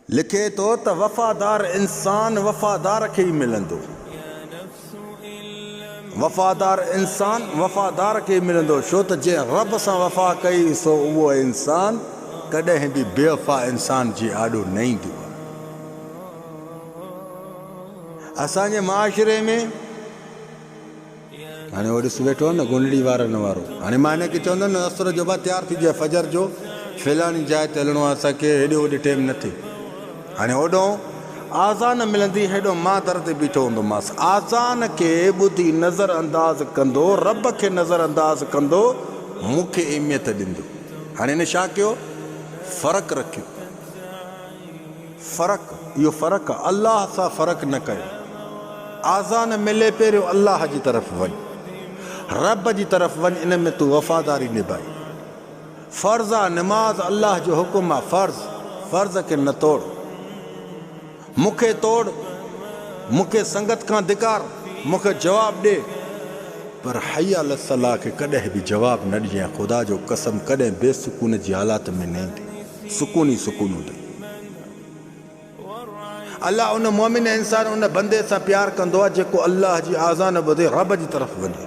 لکي ٿو ته وفادار انسان وفادار کي ئي ملندو، وفادار انسان وفادار کي ئي ملندو ڇو ته جنهن رب سان وفا ڪئي سو اهو انسان ڪڏهن به بيوفا انسان جي آڏو نه ايندو. اسان جي معاشري ۾. هاڻي هو ڏس ويٺو آهي نه گونڙي وارن وارو. هاڻي مان هن کي چوندس نه اسرو جو ڀاء تيار ٿيجي فجر جو فلاڻي جاء تي هلڻو آهي اسان کي هيڏي هوڏي ٽيم نه ٿئي. هاڻي هوڏهون آذان ملندي هيڏهون مان در تي بيٺو هوندومانس آذان کي ٻڌي نظر انداز ڪندو رب کي نظر انداز ڪندو مون کي اهميت ڏيندو. هاڻي هن ڇا ڪيو فرق رکيو. فرق اهو فرق آ الله سان فرق نه ڪيو آذان ملي پهريون الله جي طرف وڃ رب جي طرف وڃ ان ۾ تون وفاداري نڀائي فرض آ نماز الله جو حڪم آ فرض فرض کي نه توڙ مون کي توڙ مون کي سنگت کان ڌڪار مون کي جواب ڏي پر حي علي الصلاح کي ڪڏهن به جواب نه ڏجئين خدا جو قسم ڪڏهن بي سڪون جي حالات ۾ نه ايندي. سڪون ئي سڪون هوندئي. الله ان مؤمن ۽ انسان ان بندي سان پيار ڪندو آهي جيڪو الله جي آذان ٻڌي رب جي طرف وڃي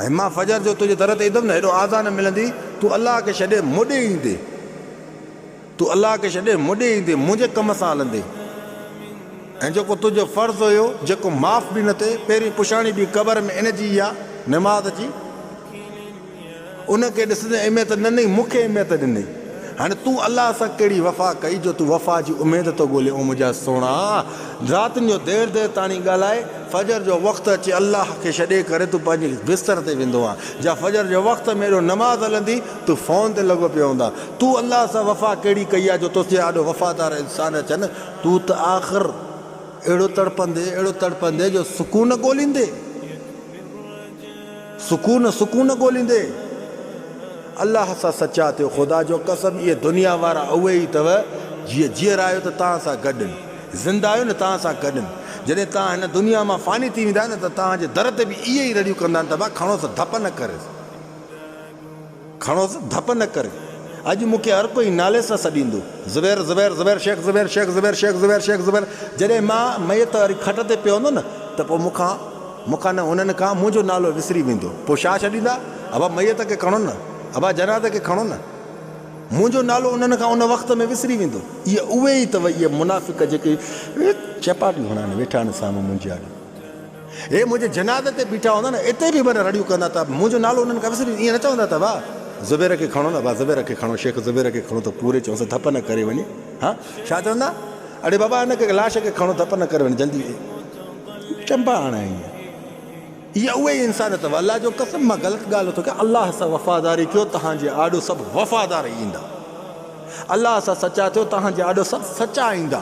۽ مان فجر جو تنهنجي در تي ايندم نه هيڏو آذان ملندي تون الله کي ڇڏي مونڏي ايندي تون الله کي ڇڏي مونڏي ايندي منهنجي ڪم سان هلندي ۽ جيڪو تنهنجو فرض هيو جيڪو معاف به نه ٿئي پهرين پڇاڻي به قبر ۾ ان جي ئي آهي نماز جي ان کي ڏسندي اهميت نه ڏنئي، مون کي اهميت ڏنئي. هاڻي تون الله سان ڪهڙي وفا ڪئي جو تون وفا جي اميد ٿو ڳولين او منهنجا سهڻا! راتين جو دير دير تاڻي ڳالهائي، فجر جو وقت اچي الله کي ڇڏي ڪري تون پنهنجي بستر تي ويندو آهين. جا فجر جي وقت ۾ ايڏو نماز هلندي، تون فون تي لڳو پيو هوندا. تون الله سان وفا ڪهڙي ڪئي آهي جو توسين آڏو وفادار انسان اچن. تون ته آخر اهڙو تڙپندين اهڙو تڙپندين جو سڪون نه ڳوليندين. سڪون سڪون ڳوليندي. الله سان سچا ٿيو خدا جو قسم اهي دنيا وارا اهي ئي اٿو جي جيئرا آهيو ته توهان سان گڏ ان زنده آهيو نه توهان سان گڏ ان جڏهن توهان هن دنيا مان فاني ٿي ويندا نه ته توهان جي در تي به اهي ئي رڙيون ڪندا ته ڀا کڻوس ڌپ نه ڪريس کڻوس ڌپ نه ڪري اڄ مون کي هر ڪوئي نالي سان سڏيندو زبير زبير زبير شيخ زبير شيخ زبير شيخ زبير شيخ زبير جڏهن مان ميت واري کٽ تي پيو هوندو نه ته پوء مون کان مون کان نه هنن کان منهنجو نالو وسري ويندو پوء ڇا ڇڏيندا ابا ميت کي کڻو نه ابا جنازي کي کڻو نه منهنجو نالو انهن کان ان وقت ۾ وسري ويندو اهي اهي ئي اٿو اهي منافق جيڪي چپاٽيون هڻائن ويٺا آهن سامهون منهنجي آڏو هي منهنجي جنازي تي بيٺا هوندا نه اتي به من رڙيون ڪندا ته منهنجو نالو انهن کان وسري ائين نه چوندا ته وا زبير کي کڻو نه وا زبير کي کڻو شيخ زبير کي کڻو ته پوري چونس ڌپ نه ڪري وڃي ها ڇا چوندا اڙي بابا هن کي لاش کي کڻو ڌپ نه ڪري وڃي جلدي چنبا آڻي اهي اهي ئي انسانيت اٿو الله جو قسم مان غلط ڳالهه نٿو ڪيان الله سان وفاداري ڪيو توهان جي آڏو سڀ وفادار ايندا الله سان سچا ٿيو توهان جي آڏو سڀ سچا ايندا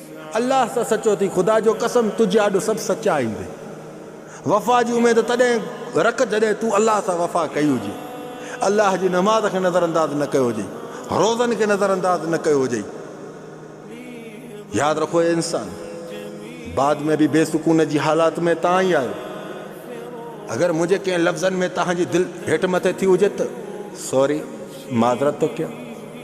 الله سان سچو ٿي خدا جو قسم تجھي آڏو سڀ سچا ايندي وفا جي اميد تڏهن رک جڏهن تون الله سان وفا ڪئي هجي الله جي نماز کي نظر انداز نه ڪيو هجئي روزن کي نظر انداز نه ڪيو هجئي ياد رکو اي انسان بعد ۾ به بي سڪون جي حالات ۾ تان ئي آيو اگر منهنجي ڪنهن لفظن ۾ تهان جي دل هيٺ مٿي ٿي هجي ته سوري معذرت ٿو ڪيان